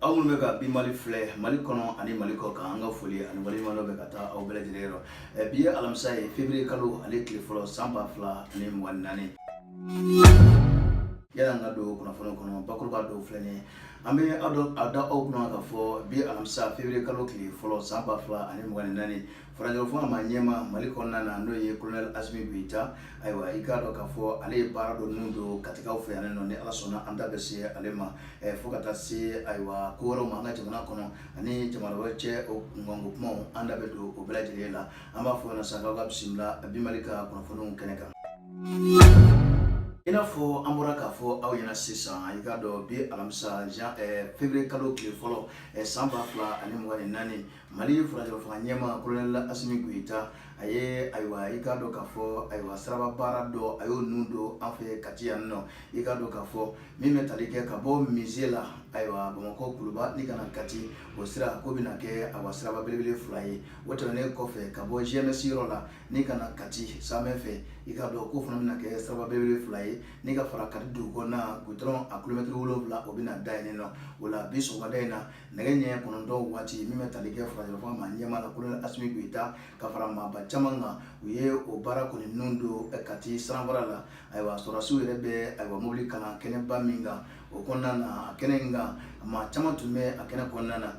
aw minnu bɛ ka bi mali filɛ mali kɔnɔ ani mali kɔkan an ka foli ani waleɲumandɔn bɛ ka taa aw bɛɛ lajɛlen yɔrɔ bi ye alamisa ye fevrier kalo ale tile fɔlɔ san ba fila ani mugan naani yala an ka don kunnafoni kɔnɔ bakuruba dɔw filɛ nin ye an bɛ a da aw kunna k'a fɔ bi alamisa fevrier kalo tile fɔlɔ san ba fila ani mugan ni naani furancɛlafanga ɲɛmaa mali kɔnɔna na n'o ye kolonɛli asimi goyita ayiwa i k'a dɔn k'a fɔ ale ye baara dɔ nun don katikaw fɛ yan nɔ ni ala sɔnna an da bɛ se ale ma fo ka taa se ayiwa ko wɛrɛw ma an ka jamana kɔnɔ ani jamana wɛrɛ cɛ o kunkanko kumaw an da bɛ don o bɛɛ lajɛlen la an b'a fɔ sa aw ka bisimila bi mali ka kunnafoniw kɛnɛ kan i n'a fɔ an bɔra k'a fɔ aw ɲɛna sisan i k'a dɔn bi alamisa jan eh, fevrier kalo tile fɔlɔ eh, san ba fila ani mugan ni naani mali furancɛlafanga ɲɛmaa kolonɛli asimi goyita a ye ayiwa i k'a dɔn k'a fɔ ayiwa siraba baara dɔ a y'o nun don an fɛ kati yan nɔ i k'a dɔn k'a fɔ min bɛ tali kɛ ka bɔ mize la ayiwa bamakɔ kuluba n'i ka na kati o sira k'o bɛna kɛ ayiwa siraba belebele fila ye o tɛmɛnen kɔfɛ ka bɔ gms yɔrɔ la n'i ka na kati samɛ fɛ i k'a dɔn k'o fana bɛna kɛ siraba belebele fila ye n'i ka fara kati dugu kɔnɔna gudɔrɔn a kulomɛtiri wolonwula o bɛna da yen nɔ o la bi sɔgɔmada in na nɛgɛ ɲɛ kɔnɔntɔn waati min bɛ tali kɛ furancɛlafanga ɲɛmaa la kolonɛli asimi goyita ka fara maaba caman kan u ye o baara kɔni nun don kati sananfara la ayiwa sɔrɔdasiw yɛrɛ bɛ ayiwa mobili kalan kɛnɛba min kan o kɔnɔna na a kɛnɛ in kan maa caman tun bɛ a kɛnɛ kɔnɔna na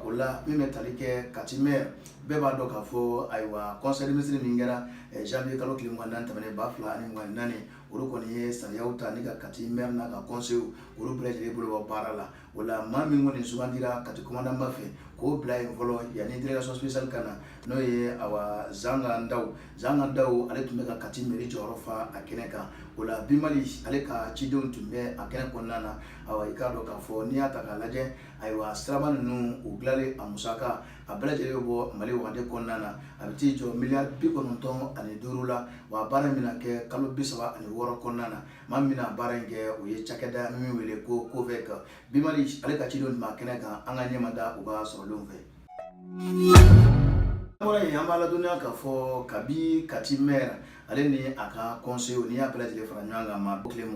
o la min bɛ tali kɛ kati mɛri bɛɛ b'a dɔn k'a fɔ ayiwa kɔnsɛyi minisiri min kɛra janviye kalo tile mugannan tɛmɛnen ba fila ani mugan naani olu kɔni ye sariyaw ta ni ka kati mɛri n'a ka kɔnsew olu bɛɛ lajɛlen bolo baara la o la maa min kɔni sugandira kati komandanba fɛ k'o bila yen fɔlɔ yanni delegasɔn sipesiyali ka na n'o ye ayiwa zanga daw Zanga Daw ale tun bɛ ka Kati mairie jɔyɔrɔ fa a kɛnɛ kan, o la Bi Mali ale ka cidenw tun bɛ a kɛnɛ kɔnɔna na, awa i k'a dɔn k'a fɔ n'i y'a ta k'a lajɛ, ayiwa siraba ninnu u dilanli a musaka a bɛɛ lajɛlen bɛ bɔ Mali wagande kɔnɔna na, a bɛ t'i jɔ miliyari bi kɔnɔntɔn ani duuru la, wa a baara in bɛna kɛ kalo bi saba ani wɔɔrɔ kɔnɔna na, maa min bɛna baara in kɛ o ye cakɛda min bɛ wele ko COVEC, Bi Mali ale ka cidenw tun b'a kɛnɛ kan, an ka ɲɛmada u ka sɔrɔlenw fɛ. Kɔrɔ in an b'a ladɔniya k'a fɔ kabi kati mɛri ale ni a ka kɔnse ni a bɛɛ lajɛlen fara ɲɔgɔn kan ma tile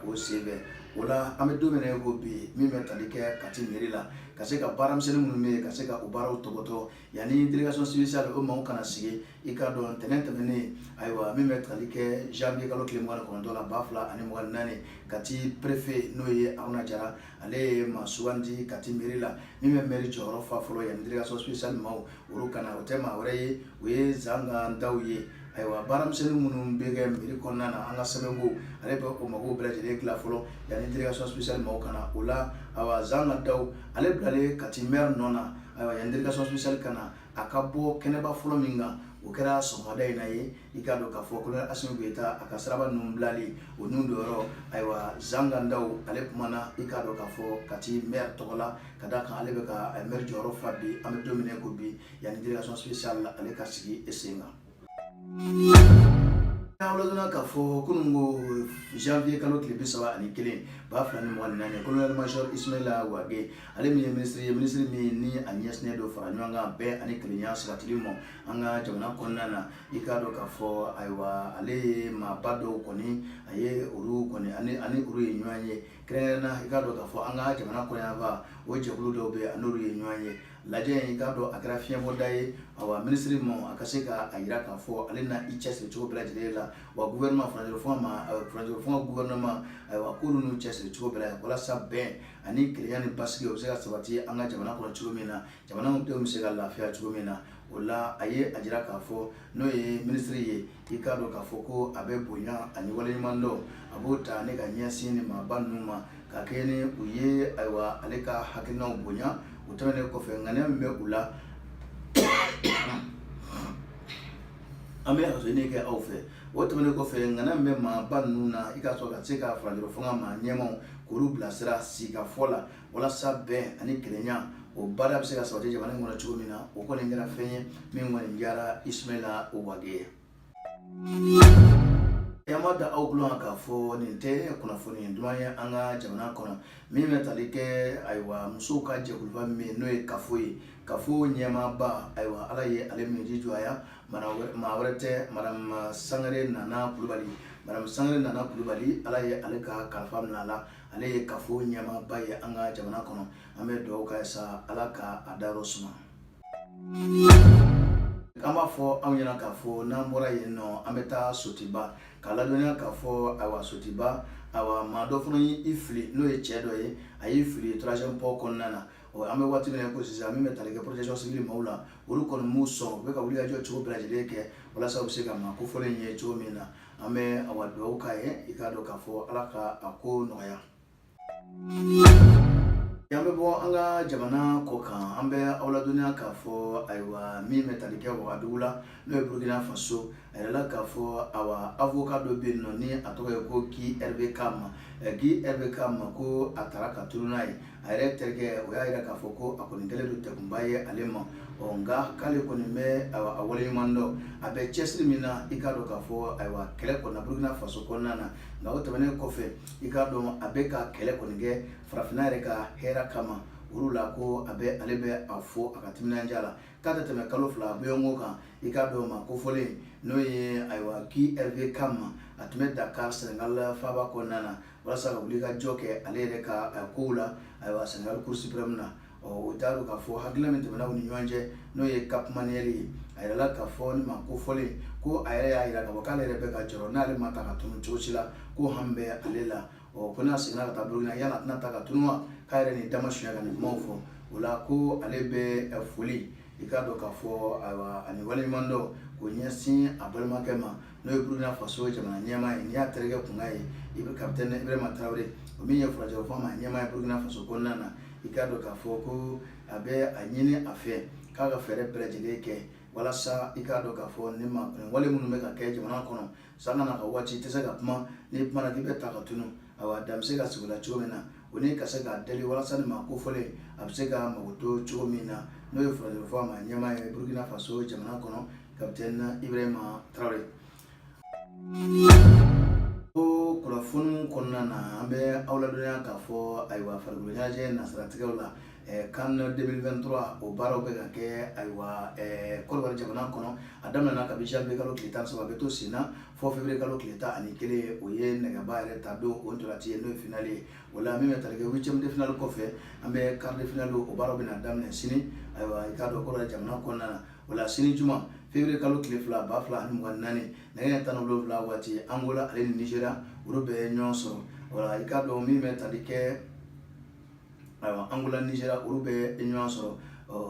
o sen bɛɛ o la an bɛ don min na ko bi min bɛ tali kɛ kati mɛri la ka se ka baaramisɛnnin minnu bɛ ka se ka u baaraw topoto yanni délégation spéciale o maaw ka na sigi i k'a dɔn ntɛnɛn tɛmɛnen ayiwa min bɛ tali kɛ janvier kalo tile mugan ani kɔnɔntɔn la ba fila ani mugan ni naani kati perefe n'o ye aruna jara ale ye maa sugandi kati mɛri la min bɛ mɛri jɔyɔrɔ fa fɔlɔ yan délégation spéciale maaw olu ka na o tɛ maa wɛrɛ ye o ye zanga daw ye ayiwa baaramisɛnnin minnu bɛ kɛ mɛri kɔnɔna na an ka sɛbɛnko ale bɛ o mago bɛɛ lajɛlen dilan fɔlɔ yanni délégation spéciale maaw ka na o la ayiwa zanga daw ale bilalen kati maire nɔ na ayiwa yanni délégation spéciale ka na a ka bɔ kɛnɛba fɔlɔ min kan o kɛra sɔgɔmada in na ye i k'a dɔn k'a fɔ colonel asimi goyita a ka siraba ninnu bilali o ninnu don yɔrɔ ayiwa zanga daw ale kumana i k'a dɔn k'a fɔ kati mɛri tɔgɔ la ka da a kan ale bɛ ka mɛri jɔyɔrɔ fa bi an bɛ don min na ko bi yanni délégation spéciale ale ka sigi i sen kan Aw ladɔniya k'a fɔ kunun ko janvier kalo tile bi saba ani kelen ba fila ni mugan ni naani colonel major Ismaila Wage ale min ye minisiri ye minisiri min ni a ɲɛsinnen don fara ɲɔgɔn kan bɛn ani kelenya sabatili ma an ka jamana kɔnɔna na i k'a dɔn k'a fɔ ayiwa ale ye maaba dɔw kɔni a ye olu kɔni ani ani olu ye ɲɔgɔn ye kɛrɛnkɛrɛnnenya i k'a dɔn k'a fɔ an ka jamana kɔnɔ yanfan o jɛkulu dɔw bɛ yen a n'olu ye ɲɔgɔn ye lajɛ in i k'a dɔn a kɛra fiɲɛbɔda ye ayiwa minisiri ma a ka se ka a jira k'a fɔ ale na i cɛsiri cogo bɛɛ lajɛlen la wa gouvernement furancɛ fanga ma furancɛ fanga gouvernement ayiwa k'olu n'u cɛsiri cogo bɛɛ la walasa bɛn ani kelenya ni basigi o bɛ se ka sabati an ka jamana kɔnɔ cogo min na jamanadenw bɛ se ka lafiya cogo min na o la a ye a jira k'a fɔ n'o ye minisiri ye i k'a dɔn k'a fɔ ko a bɛ bonya ani waleɲuman dɔn a b'o ta ne ka ɲɛsin nin maaba ninnu ma ka kɛɲɛ ni u ye ayiwa ale ka hakilinaw bonya o tɛmɛnen kɔfɛ ŋaniya min bɛ u la an bɛ yafaɲini kɛ aw fɛ o tɛmɛnen kɔfɛ ŋaniya min bɛ maaba ninnu na i k'a sɔrɔ ka se ka furancɛ fanga maa ɲɛmaw k'olu bilasira sigikafɔ la walasa bɛn ani kelenya o baara bɛ se ka sabati jamana in kɔnɔ cogo min na o kɔni kɛra fɛn ye min kɔni diyara ismaila wage ye an b'a da aw tulo kan k'a fɔ nin tɛ kunnafoni duman ye an ka jamana kɔnɔ min bɛ tali kɛ ayiwa musow ka jɛkuluba min ye n'o ye kafo ye kafo ɲɛmaaba ayiwa ala ye ale min ji jɔya maa wɛrɛ tɛ madame sangare nana kulubali madame sangare nana kulubali ala ye ale ka kalifa minɛ a la ale ye kafo ɲɛmaaba ye an ka jamana kɔnɔ an bɛ dugawu k'a ye sa ala ka a dayɔrɔ suma an b'a fɔ anw ɲɛna k'a fɔ n'an bɔra yen nɔ an bɛ taa sotiba k'aw ladɔnniya k'a fɔ ayiwa sotiba ayiwa maa dɔ fana ye i fili n'o ye cɛ dɔ ye a y'i fili troisième pont kɔnɔna na an bɛ waati min na ko sisan min bɛ tali kɛ protection civile maaw la olu kɔni m'u sɔn u bɛ ka wulikajɔ cogo bɛɛ lajɛlen kɛ walasa u bɛ se ka maa kofɔlen in ye cogo min na an bɛ awa dugawu k'a ye i k'a dɔn k'a fɔ ala ka a ko nɔgɔya an bɛ bɔ an ka jamana kɔ kan an bɛ aw ladɔnniya k'a fɔ ayiwa min bɛ tali kɛ wagadugu la n'o ye burukina faso a yirala k'a fɔ awa avoka dɔ bɛ yen nɔ ni a tɔgɔ ye ko guy hervé kam guy hervé kam ko a tara ka tunu n'a ye a yɛrɛ terikɛ o y'a jira k'a fɔ ko a kɔni kɛlen don degunba ye ale ma ɔ nka k'ale kɔni bɛ a waleɲuman dɔn a bɛ cɛsiri min na i k'a dɔn k'a fɔ ayiwa kɛlɛ kɔnɔ burukina faso kɔnɔna na nka o tɛmɛnen kɔfɛ i k'a dɔn a bɛ ka kɛlɛ kɔni kɛ farafinna yɛrɛ ka hɛrɛ kama olu la ko a bɛ ale bɛ a fɔ a ka timinandiya la k'a tɛ tɛmɛ kalo fila bɔɲɔgɔnko kan i k'a dɔn maa kofɔlen n'o ye ayiwa guy hervé kam a tun bɛ dakar senegal faaba kɔnɔna na walasa ka wulikajɔ kɛ ale yɛrɛ ka kow la ayiwa sɛnɛgali cour supreme na ɔ o t'a dɔn k'a fɔ hakilila min tɛmɛna u ni ɲɔgɔn cɛ n'o ye cap manuel ye a yirala k'a fɔ nin maa kofɔlen ko a yɛrɛ y'a yira k'a fɔ k'ale yɛrɛ bɛ ka jɔrɔ n'ale ma ta ka tunu cogo si la ko hami bɛ ale la ɔ ko n'a seginna ka taa burukina yala a tɛna ta ka tunu wa k'a yɛrɛ nin dama suya ka nin kumaw fɔ o la ko ale bɛ foli i k'a dɔn k'a fɔ ayiwa ani waleɲumandɔn k'o ɲɛsin a balimakɛ ma n'o ye burukina faso jamana ɲɛmaa ye n'i y'a terikɛ kunkan ye ib kapitɛni ibrahima tarawele o min ye furancɛ fanga ɲɛmaa ye burukina faso kɔnɔna na i k'a dɔn k'a fɔ ko a bɛ a ɲini a fɛ k'a ka fɛɛrɛ bɛɛ lajɛlen kɛ walasa i k'a dɔn k'a fɔ nin wale minnu bɛ ka kɛ jamana kɔnɔ sanga ni waati i tɛ se ka kuma n'i kumana k'i bɛ ta ka tunu awa dan bɛ se ka sigi a la cogo min na o ni ka se k'a deli walasa nin maa kofɔlen a bɛ se ka makoto cogo min na n'o ye furancɛ fanga ɲɛmaa ye burukina faso jamana kɔnɔ kapitɛni ibirahima tarawele o kunnafoniw kɔnɔna na an bɛ aw ladɔnniya k'a fɔ ayiwa farikolo ɲɛnajɛ nasiratigɛw la can 2023 o baaraw bɛ ka kɛ ayiwa kɔnɔwari jamana kɔnɔ a daminɛna kabi janvier kalo tile tan ni saba a bɛ to sen na fo février kalo tile tan ani kelen o ye nɛgɛba yɛrɛ ta don o ntolaci ye n'o ye finali ye o la min bɛ tali kɛ huitième de finale kɔfɛ an bɛ quart de finale o baaraw bɛna daminɛ sini ayiwa i k'a dɔn kɔnɔwari jamana kɔnɔna na o la sini juma fevrier kalo tile fila ba fila ani mugan naani nɛgɛ ɲɛ tan ni wolonwula waati angola ale ni nizeriya olu bɛ ɲɔgɔn sɔrɔ o la i k'a dɔn min bɛ tali kɛ ayiwa angola nizeriya olu bɛ ɲɔgɔn sɔrɔ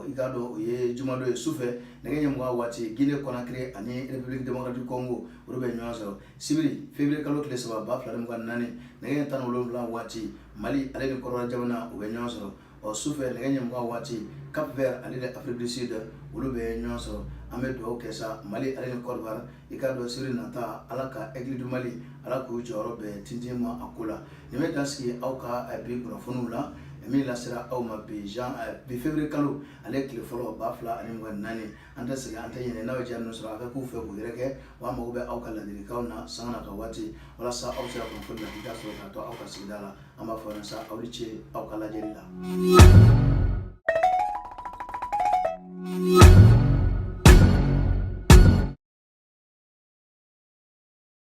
i k'a dɔn o ye jumadon ye sufɛ nɛgɛ ɲɛ mugan waati gine kɔnakiri ani republiki demokratiki kɔngo olu bɛ ɲɔgɔn sɔrɔ sibiri fevrier kalo tile saba ba fila ni mugan naani nɛgɛ ɲɛ tan ni wolonwula waati mali ale ni kɔdiwari jamana u bɛ ɲɔgɔn sɔrɔ ɔ sufɛ nɛgɛ ɲɛ mugan waati cap vert ale ni afrique du sud olu bɛ ɲɔgɔn sɔrɔ an bɛ dugawu kɛ sa mali ale ni kɔdiwari i k'a dɔn sibiri nata ala ka aigle du mali ala k'u jɔyɔrɔ bɛɛ tintin ma a ko la nin bɛ dan sigi aw ka eh, bi kunnafoniw la min lasera aw ma bi jan eh, bi fevrier kalo ale tile fɔlɔ ba fila ani mugan naani an tɛ segin an tɛ ɲinɛ n'aw ye ja ninnu sɔrɔ a ka k'u fɛ k'u yɛrɛkɛ wa an mago bɛ aw ka ladilikanw na sanga n'a ka waati walasa aw bɛ se ka kunnafoni lakika sɔrɔ ka to aw ka sigida la an b'a fɔ yan sa aw ni ce aw ka lajɛli la